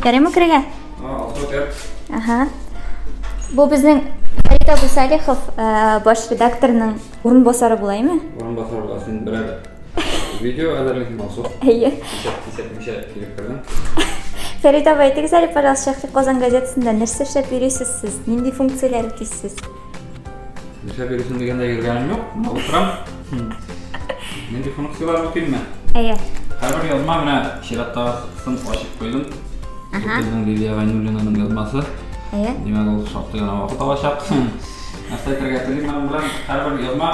Ярыймы керергә? Ага. Бу безнең Фәрит абый Салихов э, баш редакторның урынбасары булаймы? Урынбасар буласың, бирәләр. Видео әзерләйсең булса. Әйе. Кисәтмичә килеп кердем. Фәрит абый, әйтегез әле, пожалуйста, Шәхси Казан газетасында нәрсә эшләп йөрисез сез? Нинди функцияләр үтисез? Нишләп йөрисең дигәндә йөргәнем юк, мына утырам. Нинди функцияләр үтимме? Әйе. Һәрбер язма менә чираттагысын ачып куйдым. Безнең Лилия Гайнуллинаның язмасы. Әйе. Димәк, ул шактый гына вакыт алачак. Нәрсә әйтергә телим аның белән? Һәрбер язма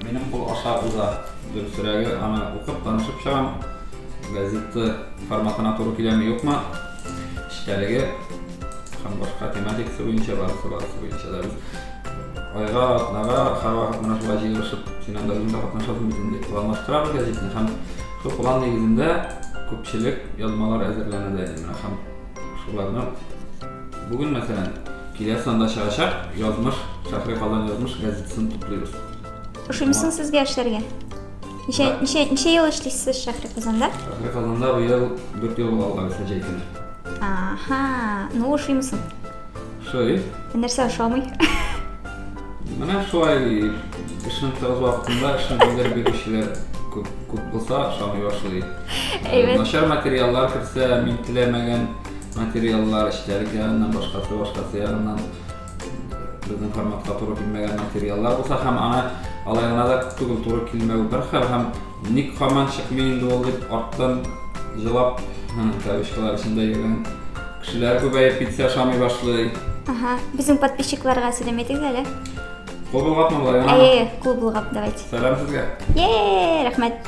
минем кул аша уза. Дөресрәге, аны укып, танышып чыгам. Газета форматына туры киләме, юкмы? эчтәлеге һәм башка тематикасы буенча барысы барысы буенча да без айга атнага һәрвакыт менә шулай җыелышып син анда үзең дә катнашасың бит инде планлаштырабыз гәзитне һәм шул план нигезендә күпчелек язмалар әзерләнә дә инде менә һәм шуларны бүген мәсәлән киләсе санда чыгачак язмыш шәһри казан язмыш газетасын туплыйбыз ошыймысын сезгә эшләргә Ничә, ничә, ничә ел эшлисез Шәһри Казанда? Шәһри Казанда бу ел дүрт ел алга үсә җәйтен. Аха, ну ошыймы соң? Ошый. Нәрсә ошамый? Менә шулай эшнең тыгыз вакытында эшне белдереп бирүчеләр күп, күп булса ошамый башлый. Әйбәт. Начар материаллар керсә, мин теләмәгән материаллар, эчтәлек ягыннан, башкасы, башкасы ягыннан Безнең форматка туры килмәгән материаллар булса һәм аны алай гына да түгел туры килмәү бер хәл һәм ник һаман чыкмый инде ул дип арттан җылап кавычкалар эчендә йөргән кешеләр күбәеп китсә ошамый башлый. Ага, безнең подписчикларга сәлам әйтегез әле. Кул болгапмы болай? Әйе, кул болгап давайте. Сәлам сезгә. Е, рәхмәт.